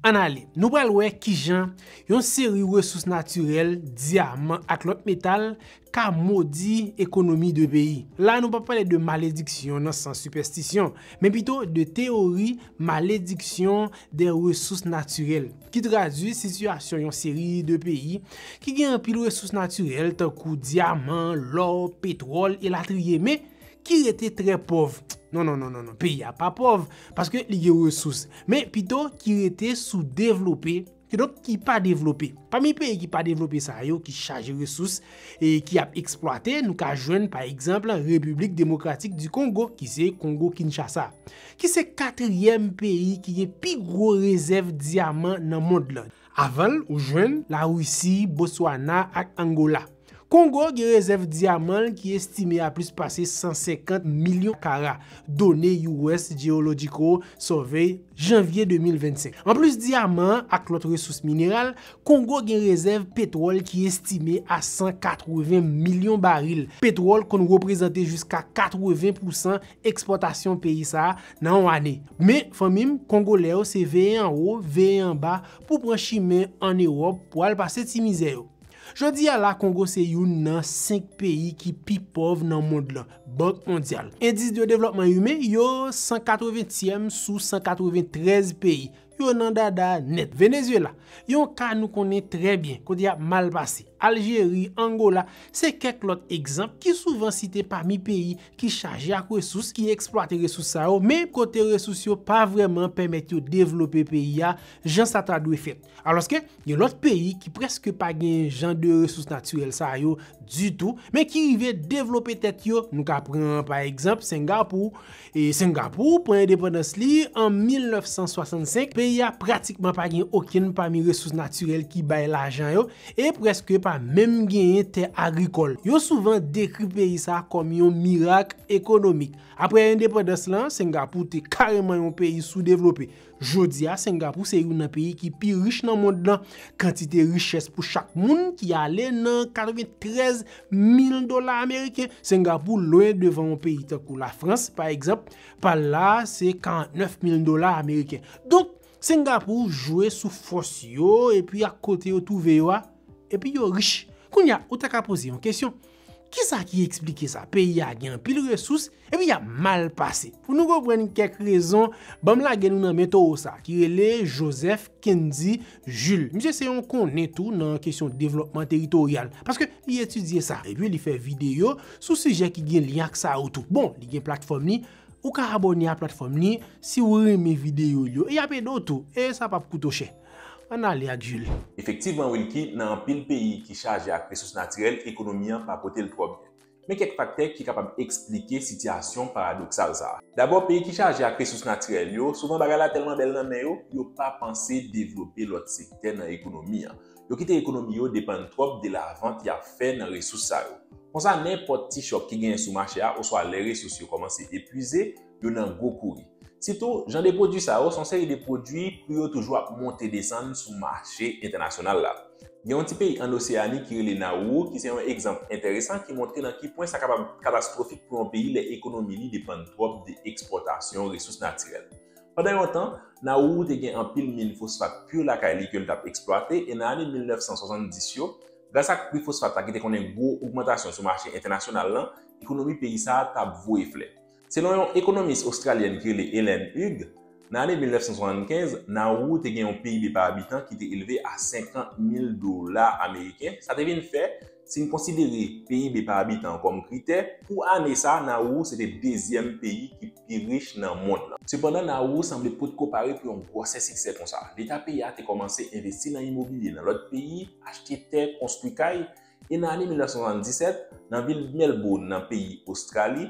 Ann ale, nou pral wè kijan yon seri resous natirèl, dyaman ak lòt metal, ka modi ekonomi de peyi. La nou pa pale de malediksyon nan sans sipèstisyon, men pito de teyori malediksyon dè resous natirèl, ki tradui sitiyasyon yon seri de peyi ki gen anpil resous natirèl tankou dyaman, lò, petwòl, elatriye, men ki rete trè pòv, non non non non peyi a pa pòv paske li gen resous men pito ki rete sou devlope kidonk ki pa devlope. Pami peyi ki pa devlope sa yo ki chaje resous e ki ap eksplwate nou ka jwenn pa egzanp Repiblik Demokratik di Kongo ki se Kongo Kinshasa ki se katryèm peyi ki gen pi gwo rezèv dyaman nan mond lan. Avan l ou jwenn Larisi, Botswana ak Angola. Kongo gen rezèv dyaman l ki estime a plis pase 150 milyon kara, done US. Geological Survey, janvye 2025. Anplis dyaman an ak lòt resous mineral, Kongo gen rezèv petwòl ki estime a 180 milyon baril. Petwòl konn reprezante jiska 80 pousan ekspòtasyon peyi sa a nan yon ane. Men, fanmi m, Kongolè yo se veye anwo, veye anba pou pran chimen an Ewòp pou al pase ti mizè yo. Jodi a la Kongo se youn nan 5 peyi ki pi pòv nan mond lan, Bank Mondyal. Endis de devlòpman imen, yo 180 tièm sou 193 peyi. Yo nan dada nèt. Venezyela, yon ka nou konnen trè byen, kote yap mal pase. Aljeri, Angola, se kèk lòt egzanp ki souvan site pami peyi ki chaje ak resous, ki eksplwate resous sa yo, men kote resous yo pa vrèman pèmèt yo devlope peyi a jan sa ta dwe fèt. Alòske, gen lòt peyi ki prèske pa gen jan de resous natirèl sa yo ditou, men ki rive devlope tèt yo, nou ka pran pa egzanp Sengapou, e Sengapou pran endepandans li an 1965, peyi a pratikman pa gen okenn pami resous natirèl ki bay lajan yo, e prèske pa menm genyen tè agrikòl. Yo souvan dekri peyi sa kòm yon mirak ekonomik. Aprè endepandans lan, Sengapou te kareman yon peyi soudevlope. Jodi a, Sengapou se youn nan peyi ki pi rich nan mond lan. Kantite richès pou chak moun ki ale nan 93 mil dola ameriken. Sengapou lwen devan yon peyi tankou Lafrans, pa egzanp, pa l la a se 49 mil dola ameriken. Donk, Sengapou jwe sou fòs yo epi ak kote yo twouve yo a, epi yo rich. Kounye a, ou ta ka poze yon kesyon, Kisa ki eksplike sa? Peyi a gen anpil resous, epi y ap mal pase. Pou nou konprann kèk rezon, ban m lage nou nan men towo sa, ki rele Joseph Kendy Jules. Misye se yon konnen tou nan kesyon devlòpman teritoryal, paske li etidye sa, epi li fè videyo sou sijè ki gen lyen ak sa yo tou. Bon, li gen platfòm li, ou ka abòne a platfòm li, si ou renmen videyo l yo, e y ap ede w tou, e sa p ap koute w chè. Ann ale ak Jules. Efektivman Wilky, nan anpil peyi ki chaje ak resous natirèl ekonomi an pa pote l twò byen. Men kèk faktè ki kapab esplike sitiyasyon paradoksal sa. Dabò peyi ki chaje ak resous natirèl yo, souvan bagay la tèlman bèl nan men yo, yo pa panse devlope lòt sektè nan ekonomi an. Yo kite ekonomi yo depann twòp de lavant y ap fè nan resous sa yo. Konsa nenpòt ti chòk ki genyen sou mache a oswa lè resous yo kòmanse epwize, yo nan gwo kouri. Sitou, jan de pwodui sa yo son seri de pwodui pri yo toujou ap monte desann sou mache entènasyonal la. Gen yon ti peyi ann Oseyani ki rele Nawou ki se yon egzanp enteresan ki montre nan ki pwen sa kapab katastwofik pou yon peyi lè ekonomi li depann twòp de ekspòtasyon resous natirèl. Pandan yon tan, Nawou te gen anpil min fosfat pur lakay li ke l t ap eksplwate e nan ane 1970 yo, gras ak pri fosfat la ki te konnen gwo ogmantasyon sou mache entènasyonal lan, ekonomi peyi sa a t ap voye flè. Selon yon ekonomis ostralyèn ki rele Helen Hugh, nan ane 1975, Nauru te gen yon PIB pa abitan ki te elve a 50 mil dola ameriken, sa te vin fè, si n konsidere PIB pa abitan an kòm kritè, pou ane sa a Nauru se te dezyèm peyi ki pi rich nan mond lan. Sepandan, Nauru sanble potko pare pou yon gwosè siksè konsa. Leta peyi a te kòmanse envesti nan imobilye nan lòt peyi, achte tè, konstwi kay, E nan ane 1977, nan vil Melbourne, nan peyi Ostrali,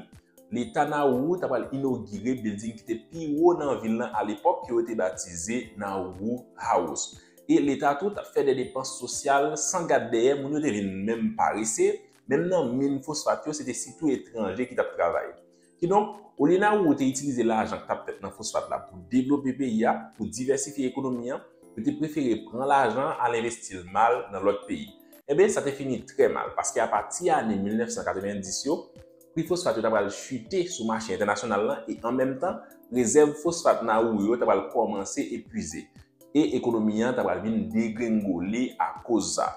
Leta Nauru ta pral inogire bilding ki te pi wo nan vil lan alepòk ke yo te batize Nauru House. E Leta tou t ap fè de depans sosyal san gad dèyè, moun yo te vin menm parese, menm nan min fosfat yo se te sitou etranje ki t ap travay. Kidonk, olye Nauru te itilize lajan k t ap fèt nan fosfat la pou devlope peyi a, pou divèsifye ekonomi an, yo te prefere pran lajan an al envesti l mal nan lòt peyi. Enben, sa te fini trè mal, paske apati ane 1990 yo, pri fosfat yo t ap pral chite sou mache entènasyonal la e an menm tan, rezèv fosfat Nauru yo t ap pral kòmanse epuize. E ekonomi an t ap pral vin degrengole akoz sa.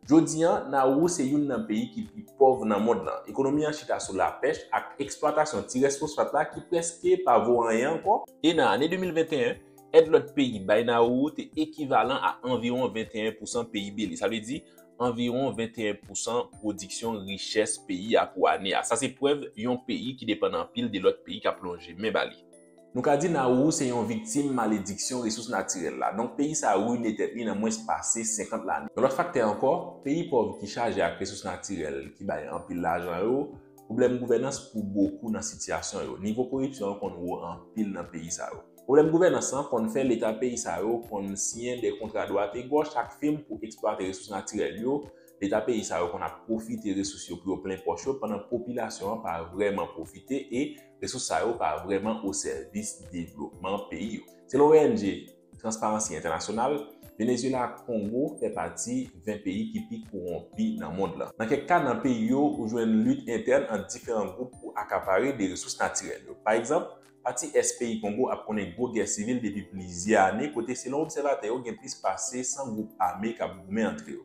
Jodi an, Nauru se youn nan peyi ki pi pòv nan mond lan. Ekonomi an chita sou lapèch ak eksplwatasyon ti rès fosfat la ki prèske pa vo anyen ankò, e nan ane 2021, èd lòt peyi bay Nauru te ekivalan a anviwon 21 pousan PIB li, sa vle di, anviwon 21 pousan pwodiksyon richès peyi a pou ane a. Sa se prèv yon peyi ki depann anpil de lòt peyi k ap lonje men ba li. Nou ka di Nauru se yon viktim malediksyon resous natirèl la, donk peyi sa rine tèt li nan mwens pase 50 lane. Yon lòt faktè ankò, peyi pòv ki chaje ak resous natirèl ki bay anpil lajan yo, pwoblèm gouvènans pou bokou nan sitiyasyon yo. Nivo koripsyon an konn wo anpil nan peyi sa yo. Pwoblèm gouvènans lan konn fè leta peyi sa yo konn siyen de kontra dwategòch ak fim pou eksplwate resous natirèl yo, leta peyi sa yo konn ap pwofite resous yo pou yo plen pòch yo pandan popilasyon an pa vrèman pwofite e Resous sa yo pa vrèman osèvis devlopman peyi yo. Selon ONG Transparansi Entènasyonal, Venezyela ak Kongo fè pati 20 peyi ki pi kowonpi nan mond lan. Nan kèk ka, nan peyi yo, ou jwenn lit entèn ant diferan gwoup pou akapare de resous natirèl yo. Pa egzanp, pati ès peyi Kongo ap konnen gwo gè sivil depi plizyè ane kote selon obsèvatè yo gen plis pase 100 gwoup ame k ap goumen antre yo.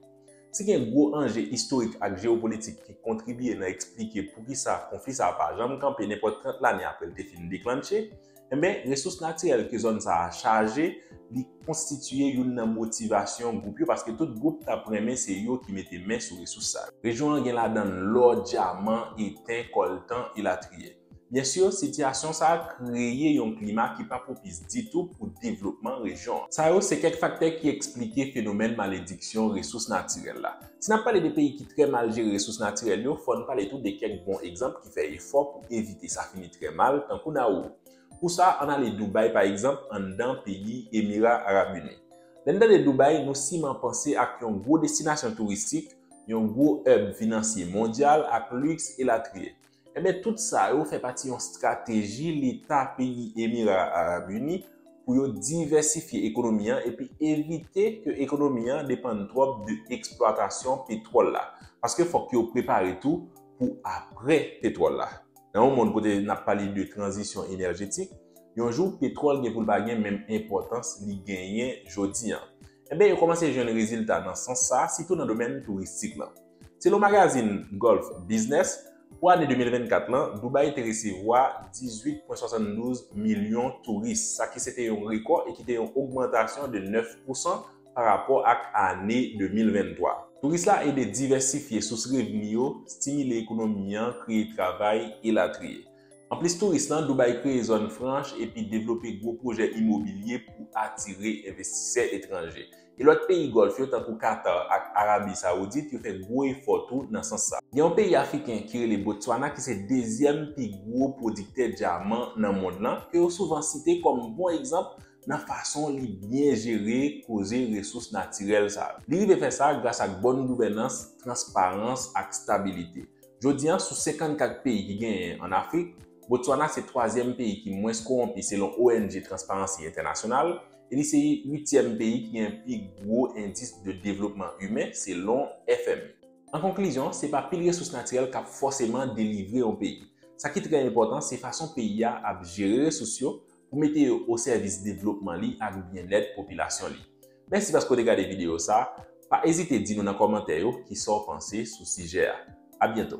Si gen gwo anje istorik ak jewopolitik ki kontribye nan eksplike poukisa konfli sa a pa janm kanpe nenpòt 30 lane apre l te fin deklannche, enben resous natirèl ke zòn sa a chaje li konstitiye youn nan motivasyon gwoup yo paske tout gwoup t ap renmen se yo ki mete men sou resous sa yo. Rejyon an gen ladan l lò, dyaman, eten, kòltan, elatriye. Byen si, sitiyasyon sa a kreye yon klima ki pa pwopis ditou pou devlopman rejyon an. Sa yo se kèk faktè ki esplike fenomèn malediksyon resous natirèl la. Si n ap pale de peyi ki trè mal jere resous natirèl yo, fò n pale tou de kèk bon egzanp ki fè efò pou evite sa fini trè mal, tankou Nauru. Pou sa, an n ale Doubay pa egzanp, anndan peyi Emira Arab Ini. Lè n tande Doubay, nou siman panse ak yon gwo destinasyon touristik, yon gwo hub finansye mondyal ak liks, elatriye. Enben tout sa yo fè pati yon strateji leta peyi Emira Arab Ini pou yo divèsifye ekonomi an epi evite ke ekonomi an depann twòp de eksplwatasyon petwòl la. Paske fòk yo prepare tou pou apre petwòl la. Nan yon mond kote nap pale de tranzisyon enèjetik, yon jou petwòl gen pou l pa gen menm enpòtans li genyen jodi an. Enben yo kòmanse jwenn rezilta nan sans sa, sitou nan domèn touristik lan. Selon magazin Gulf Business, pou ane 2024 lan, Dubai te resevwa 18,72 milyon touris, sa ki se te yon rekò e ki te yon ogmantasyon de 9 pousan pa rapò ak ane 2023. Touris la ede divèsifye sous revni yo, stimile ekonomi an, kreye travay, elatriye. Anplis touris lan, Dubai kreye zòn franch epi devlope gwo pwojè imobilye pou atire envestisè etranje. E lòt peyi Gòlf yo tankou Katar ak Arabi Sawoudit yo fè gwo efò tou nan sans sa. Gen yon peyi Afriken ki rele Botswana ki se dezyèm pi gwo pwodiktè dyaman nan mond lan ke yo souvan site kòm bon egzanp nan fason li byen jere koze resous natirèl sa yo. Li rive fè sa gras ak bòn gouvènans, transparans ak stabilite. Jodi an, sou 54 peyi ki genyen an Afrik, Botswana se twazyèm peyi ki mwens kowonpi selon ong Transparency International, e li se uityèm peyi ki gen pi gwo endis de devlopman imen selon FMI. An konklizyon, se pa pil resous natirèl k ap fòseman delivre yon peyi. Sa ki trè enpòtan, se fason peyi a ap jere resous yo pou mete yo osèvis devlopman li ak byennèt popilasyon li. Mèsi paske w te gade videyo sa a. Pa ezite di nou nan kòmantè yo ki sa w panse sou sijè a. Abyento!